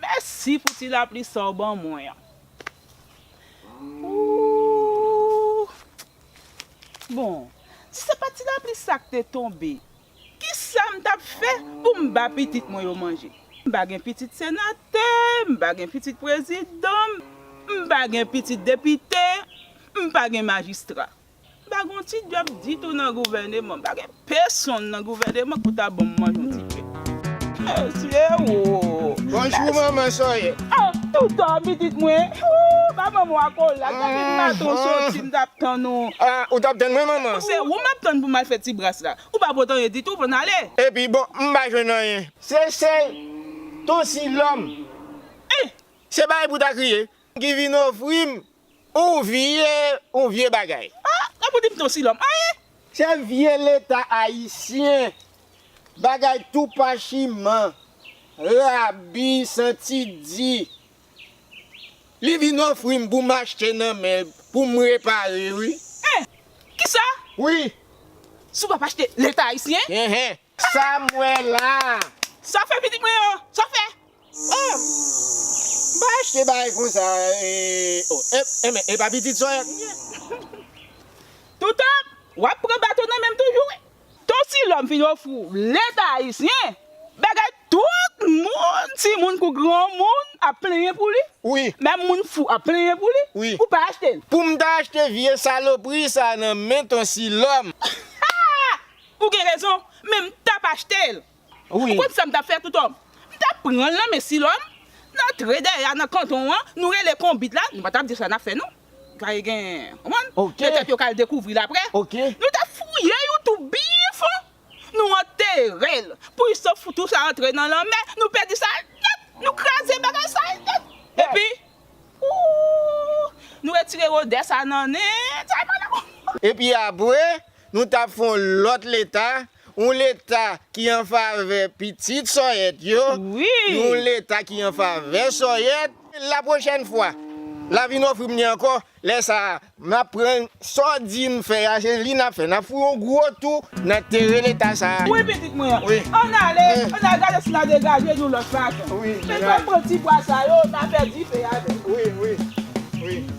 Mèsi pou ti lapli sa w ban mwen an. Ooh. Bon, si se pat ti lapli sa k te tonbe, kisa m t ap fè pou m ba pitit mwen yo manje? M pa gen pitit senatè, m pa gen pitit prezidan, m pa gen pitit depite, m pa gen majistra. M pa gen yon ti djòb ditou nan gouvèneman. M pa gen pesonn nan gouvèneman pou ta ban m manje yon ti pe. Mesye woo! Bonjou manman sòyè! A! Ou dòmi pitit mwen? Ooh! Ba manman w akola. Gad de maton w soti m t ap tann ou. A! Ou t ap tann mwen manman? Se ou m ap tann pou m al fè ti bras la. Ou pa pot anyen ditou pou n ale? Epi bon m pa jwenn anyen. Se sèl ton Silòm. Anh! Se pa li pou ta kriye. Ki vin ofri m Ou vye ou vye bagay. Ah nan pou dim ton silòm anh. Se vye leta ayisyen. Bagay tou pachiman. Rabi santi di. Li vin ofri m pou m achte nan men l pou m repare wi. Anh kisa? Wi. Si w pap achte leta ayisyen. Anh. Sam wè la. Sa fè pitit mwen yo, sa fè. Ooh m pa achte bagay konsa ooh eh e pa pitit sòyèt m ye. Toutan wap pran baton nan menm toujou wi. Ton Silòm fin ofri w leta ayisyen bagay tout moun timoun kou granmoun ap plenyen pou li wi menm moun fou ap plenyen pou li wi ou pa achte l. Poum ta achte vye salopri sa nan men ton silòm. Ou gen rezon, men m tap achte l. Ou konn sa m tap fè Toutòm? M tap pran l nan men Silòm, nan tre dèyè a nan kanton an, nou rele konbit la, nou pa tap di yo sa n ap fè non. Gaye gen, konprann? Petèt yo ka al dekouvri l aprè. Nou tap fouye yon twou byen fon, nou antere l, pou i sof twou sa antre nan lanmè, nou pèdi sa nèt, nou kraze bagay sa nèt. Epi, ooh, nou retire odè sa nan nen, sa e pa nan. Epi apre, Nou tap fè yon lòt leta, yon leta ki an favè pitit sòyèt yo, yon leta ki an favè sòyèt. La pwochèn fwa, la vin ofri m li ankò, lè sa a, m ap pran sa w di n fè a, se li n ap fè. N ap fou yon gwo tou nan teren leta sa a. Wi pitit mwen, an n ale, an n al gade si n a degaje yon lòt fason. Men fò n pran ti bwa sa yo, n a fè dife avè l.